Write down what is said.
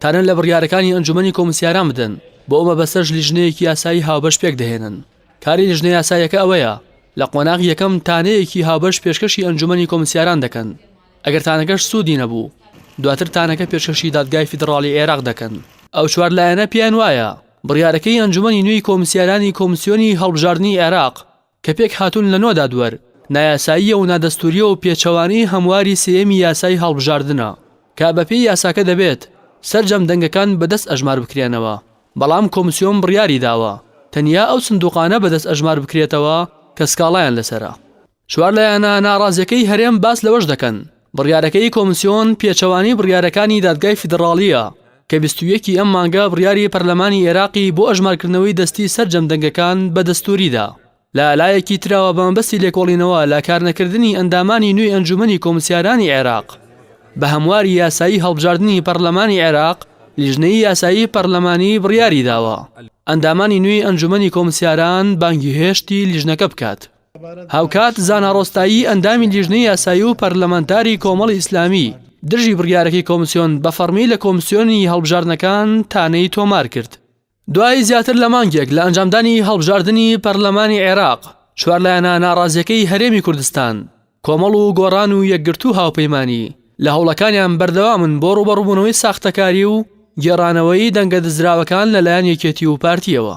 تانە لە بڕیارەکانی ئەنجومەنی کۆمسیاران بدەن بۆ ئەو مەبەستەش لیژنەیەکی یاسایی هاوبەش پێک دەهێنن کاری لیژنە یاسایەکە ئەوەیە لە قۆناغی یەکەم تانەیەکی هاوبەش پێشکەشی ئەنجومەنی کۆمسیاران دەکەن ئەگەر تانەکەش سوودی نەبوو دواتر تانەکە پێشکەشی دادگای فیدڕاڵی عێراق دەکەن ئەو چوار لایەنە پێیان وایە بڕیارەکەی ئەنجومەنی نوێی کۆمسیارانی کۆمسیۆنی هەڵبژاردنی عێراق کە پێک هاتوون لە نۆ دادوەر، نایاساییە و نادەستوورییە و پێچەوانەی هەمواری سێیەمی یاسای هەڵبژاردنە، کە بە پێی یاساکە دەبێت سەرجەم دەنگەکان بە دەست ئەژمار بکرێنەوە، بەڵام کۆمسیۆن بڕیاری داوە تەنیا ئەو سندووقانە بە دەست ئەژمار بکرێتەوە کە سکاڵایان لەسەرە. چوار لایەنە ناڕازییەکەی هەرێم باس لەوەش دەکەن بڕیارەکەی کۆمسیۆن پێچەوانەی بڕیارەکانی دادگای فیدڕاڵییە کە بیست و یەک ی ئەم مانگە بڕیاری پەرلەمانی ئێراقی بۆ ئەژمارکردنەوەی دەستی سەرجەم دەنگەکان بە دەستووری دا. لە لایەکی ترەوە بە مەبەستی لێکۆڵینەوە لە کارنەکردنی ئەندامانی نوێی ئەنجوومەنی کۆمسیارانی عێراق بە هەمواری یاسایی هەڵبژاردنی پەرلەمانی عێراق لیژنەی یاسایی پەرلەمانی بڕیاری داوە ئەندامانی نوێی ئەنجوومەنی کۆمسیاران بانگهێشتی لیژنەکە بکات. هاوکات زانا ڕۆستایی ئەندامی لیژنەی یاسایی و پەرلەمانتاری کۆمەڵی ئیسلامی دژی بڕیارەکەی کۆمسیۆن بە فەڕمی لە کۆمسیۆنی هەڵبژاردنەکان تانەی تۆمار کرد. دوای زیاتر لە مانگێک لە ئەنجامدانی هەڵبژاردنی پەرلەمانی عێراق، چوار لایەنە ناڕازییەکەی هەرێمی کوردستان، کۆمەڵ و گۆڕان و یەکگرتوو هاوپەیمانی، لە هەوڵەکانیان بەردەوامن بۆ ڕووبەڕووبوونەوەی ساختەکاری و گێڕانەوەی دەنگە دزراوەکان لەلایەن یەکێتی و پارتییەوە.